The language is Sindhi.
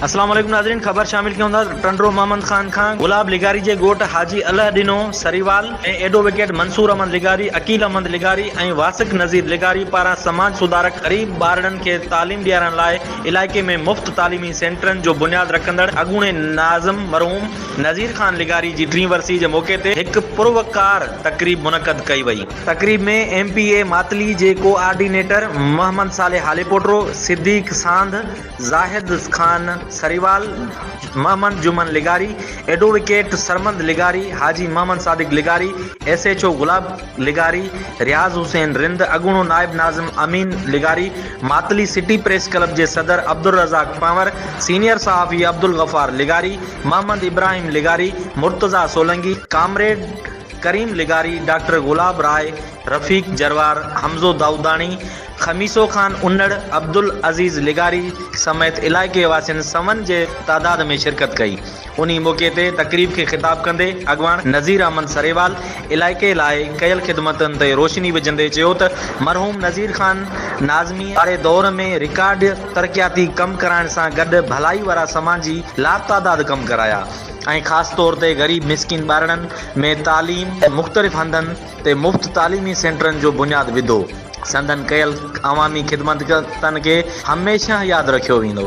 اسلام عليڪم ناظرين خبر شامل ڪيون ٿا ٽنڊو محمد خان کان گلاب لغاري جي ڳوٺ حاجي الله ڏنو سريوال ۾ ايڊووڪيٽ منصور احمد لغاري عقيل احمد لغاري ۽ واثق نذير لغاري پاران سماج سڌارڪ غريب ٻارڙن کي تعليم ڏيارڻ لاء علائقي ۾ مفت تعليمي سينٽرن جو بنياد رکندڙ اڳوڻي ناظم مرحوم نذير خان لغاري جي ٽين ورسي جي موقعي تي هڪ پروقار تقريب منعقد ڪئي وئي. تقريب ۾ ايم پي اي ماتلي جي ڪو آرڊينيٽر محمد صالح هاليپوٽرو، صديق ساند، زاهد خان سريوال، محمد جمن لغاري، ايڊووڪيٽ سرمد لغاري، حاجي محمد صادق لغاري، ايس ايڇ او گلاب، لغاري، رياض حسين رند، اڳوڻو نائب ناظم امين لغاري، ماتلي سٽي پريس ڪلب جي صدر عبدالرزاق پنور، سينيئر صحافي عبدالغفار لغاري، محمد ابراهيم لغاري، مرتضيٰ سولنگي، ڪامريڊ ڪريم لغاري، ڊاڪٽر گلاب راء، رفيق جروار، حمزو دائوداڻي، خميسو خان انڙ، عبدالعزيز لغاري سميت علائقي واسين سون جي تعداد ۾ شرڪت ڪئي. انهي موقعي تي تقريب کي خطاب ڪندي اڳواڻ نذير احمد سريوال علائقي لاء ڪيل خدمتن تي روشني وجهندي چيو ته مرحوم نذير خان ناظمي واري دور ۾ رڪارڊ ترقياتي ڪم ڪرائڻ سان گڏ ڀلائي وارا سماجي لاتعداد ڪم ڪرايا ۽ خاص طور تي غريب مسڪين ٻارڙن ۾ تعليم مختلف هنڌن تي مفت تعليمي سينٽرن جو بنياد وڌو سندن ڪيل عوامي خدمتن کي هميشه ياد رکيو ويندو.